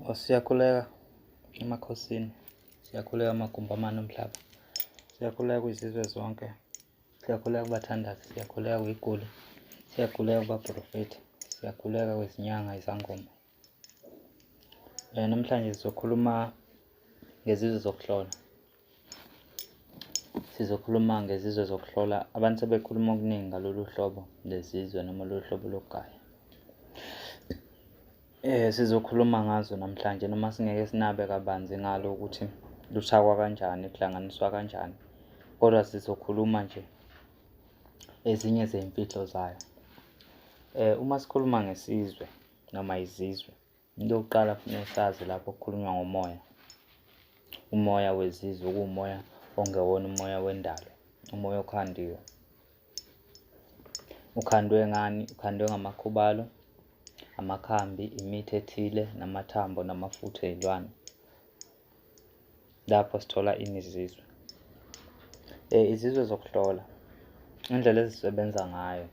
Oh, siyakhuleka emakhosini siyakhuleka amagumbamane omhlaba siyakhuleka kwizizwe zonke siyakhuleka kubathandazi siyakhuleka kwiguli siyakhuleka kubaprofethi siyakhuleka kwezinyanga izangoma um namhlanje sizokhuluma ngezizwe zokuhlola Sizokhuluma ngezizwe zokuhlola abantu sebekhuluma okuningi ngalolu hlobo lezizwe noma lolu hlobo lokugaya. Eh sizokhuluma ngazo namhlanje noma singeke sinabe kabanzi ngalo ukuthi luthakwa kanjani, kuhlanganiswa kanjani. Kodwa sizokhuluma nje ezinye zey'mfihlo zayo. Eh uma sikhuluma ngesizwe noma izizwe Into yokuqala kufuneka usazi lapho kukhulunywa ngomoya. Umoya wezizwe kuwumoya ongewona umoya wendalo, umoya okhandiwe. Ukhandwe ngani? Ukhandwe ngamakhubalo, amakhambi, imithi ethile, namathambo namafutha ey'lwane. lapho sithola ini izizwe um eh, izizwe zokuhlola indlela ezisebenza ngayo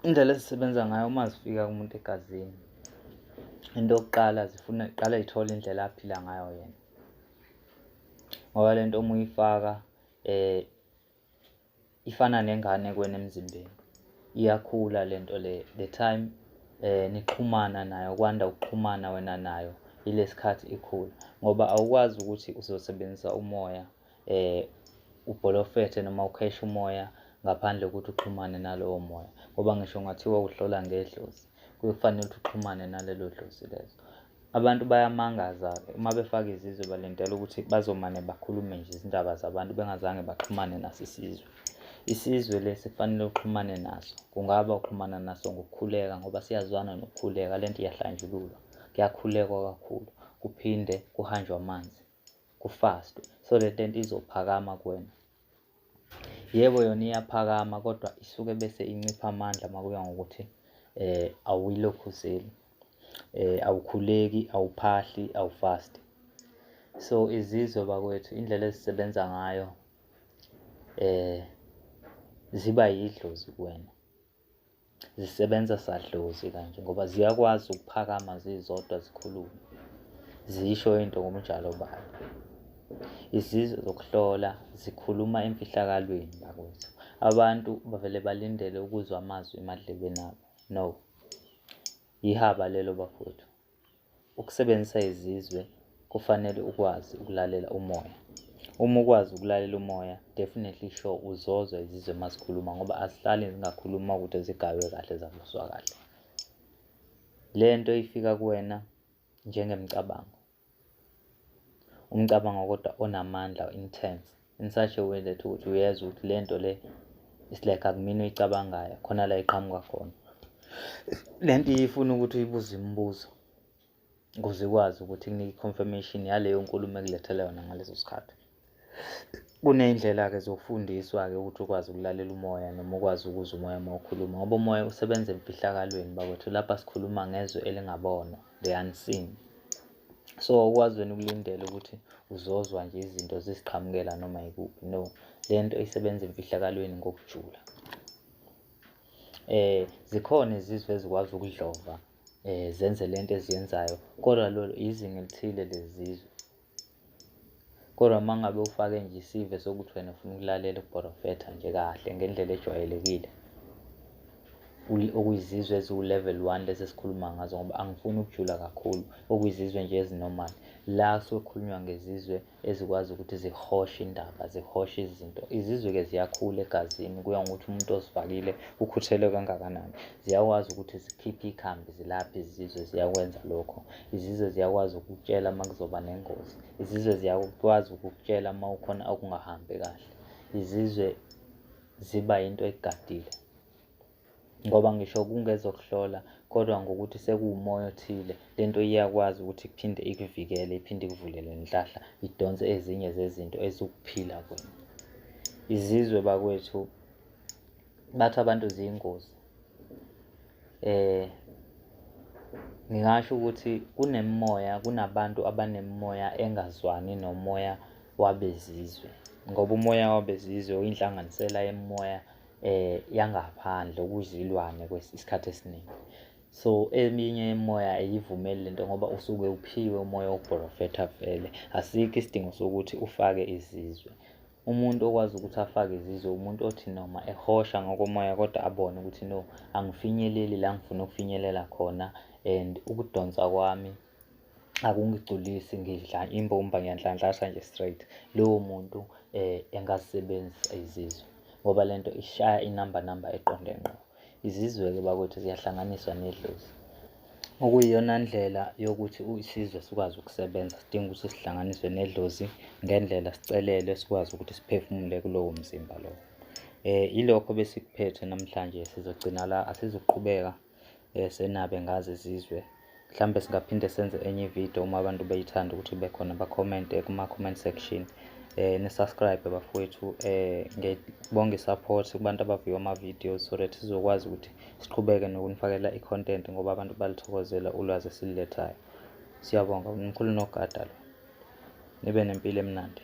indlela ezisebenza ngayo uma zifika kumuntu egazini into yokuqala zifuna iqala ithole indlela aphila ngayo yena ngoba le nto uma uyifaka um ifana nengane kwena emzimbeni iyakhula lento le the time eh nixhumana nayo kwanda ukuxhumana wena nayo ilesikhathi ikhula ngoba awukwazi ukuthi uzosebenzisa umoya eh ubholofethe noma ukhesha umoya ngaphandle kokuthi uxhumane nalowo moya ngoba ngisho ngathiwa uhlola ngedlozi kuyokufanele ukuthi uxhumane nalelo dlozi lezo Abantu bayamangaza-ke uma befaka izizwe balindela ukuthi bazomane bakhulume nje izindaba zabantu bengazange baxhumane naso isizwe. Isizwe lesi kufanele uxhumane naso, kungaba uxhumana naso ngokukhuleka ngoba siyazwana nokukhuleka, le nto iyahlanjululwa, kuyakhulekwa kakhulu, kuphinde kuhanjwe amanzi, kufastwe so le nto izophakama kuwena. Yebo yona iyaphakama kodwa isuke bese incipha amandla uma kuya ngokuthi um awuyilokhu uzeli um awukhuleki, awuphahli, awufasti. So izizwe bakwethu indlela ezisebenza ngayo um ziba yidlozi kuwena zisebenza sadlozi kanje ngoba ziyakwazi ukuphakama zizodwa zikhulume zisho into ngomjalo bayo izizwe zokuhlola zikhuluma emfihlakalweni bakwethu abantu bavele balindele ukuzwa amazwi emadlebeni abo no yihaba lelo bafowethu Ukusebenzisa izizwe kufanele ukwazi ukulalela umoya. Uma ukwazi ukulalela umoya, definitely sure uzozwa izizwe uma zikhuluma ngoba azihlali zingakhuluma ukuthi zigaywe kahle zavuswa kahle. Le nto ifika kuwena njengemicabango. Umcabango kodwa onamandla intense. in such a way that ukuthi uyezwa ukuthi le nto le it's like akumina uyicabangayo khona la iqhamuka khona le nto iyifuna ukuthi uyibuze imibuzo ukuze ikwazi ukuthi kunike i-confirmation yaleyo nkulumo ekulethela yona ngaleso sikhathi kuney'ndlela-ke zokufundiswa-ke ukuthi ukwazi ukulalela umoya noma ukwazi ukuzwa umoya uma ukhuluma ngoba umoya usebenza emfihlakalweni bakwethu lapha sikhuluma ngezwe elingabonwa the unseen so ukwazi wena ukulindela ukuthi uzozwa nje izinto ziziqhamukela noma yikuphi no le nto isebenza emfihlakalweni ngokujula eh zikhona izizwe ezikwazi ukudlova eh zenze lento eziyenzayo kodwa lolo izinga elithile lezizwe Kodwa uma ngabe ufake nje isive sokuthi wena ufuna ukulalela ukuporofetha nje kahle ngendlela ejwayelekile okuyizizwe eziwu-level one lezi esikhuluma ngazo ngoba angifuni ukujula kakhulu okuyizizwe nje ezinormal la sokhulunywa ngezizwe ezikwazi ukuthi zihoshe indaba zihoshe izinto izizwe-ke ziyakhula egazini kuya ngokuthi umuntu ozifakile ukhuthelwe kangakanani ziyakwazi ukuthi zikhiphe ikhambi zilaphe izizwe ziyakwenza lokho Izizwe ziyakwazi ukukutshela uma kuzoba nengozi. Izizwe ziyakwazi ukukutshela uma ukhona okungahambi kahle. Izizwe ziba yinto egadile ngoba ngisho kungezokuhlola kodwa ngokuthi sekuwumoya othile le nto iyakwazi ukuthi iphinde ikuvikele iphinde ikuvulele nhlahla idonse ezinye zezinto eziwukuphila kwena izizwe bakwethu bathi abantu ziyingozi eh ngingasho ukuthi kunemimoya kunabantu abanemimoya engazwani nomoya wabezizwe ngoba umoya wabezizwe uyinhlanganisela yemoya eh yangaphandle okuzilwane kwesikhathi esiningi so eminye yemoya ayivumeli lento ngoba usuke uphiwe umoya wokuprofetha vele asikho isidingo sokuthi ufake izizwe Umuntu okwazi ukuthi afake izizwe umuntu othi noma ehosha ngokomoya kodwa abone ukuthi no angifinyeleli la ngifuna ukufinyelela khona and ukudonsa kwami akungigculisi ngidla imbumba ngiyanhlanhlasha nje straight lowo muntu um engazisebenzisa izizwe ngoba le nto ishaya inamba namba eqonde ngqo Izizwe-ke bakwethu ziyahlanganiswa nedlozi. Okuyiyona ndlela yokuthi isizwe sikwazi ukusebenza sidinga ukuthi sihlanganiswe nedlozi ngendlela sicelelwe sikwazi ukuthi siphefumule kulowo mzimba lowo. Eh ilokho besikuphethe namhlanje sizogcina la asizuqhubeka eh senabe ngazi izizwe. Mhlampe singaphinde senze enye ivideo uma abantu beyithanda ukuthi ibe khona bakhomente kuma-comment section eh nisubscribe bafowethu eh ngebonge support kubantu abaviwa ama-videos so that sizokwazi ukuthi siqhubeke nokunifakela i-content ngoba abantu balithokozela ulwazi esilulethayo siyabonga mkhulu nogada lo nibe nempilo emnandi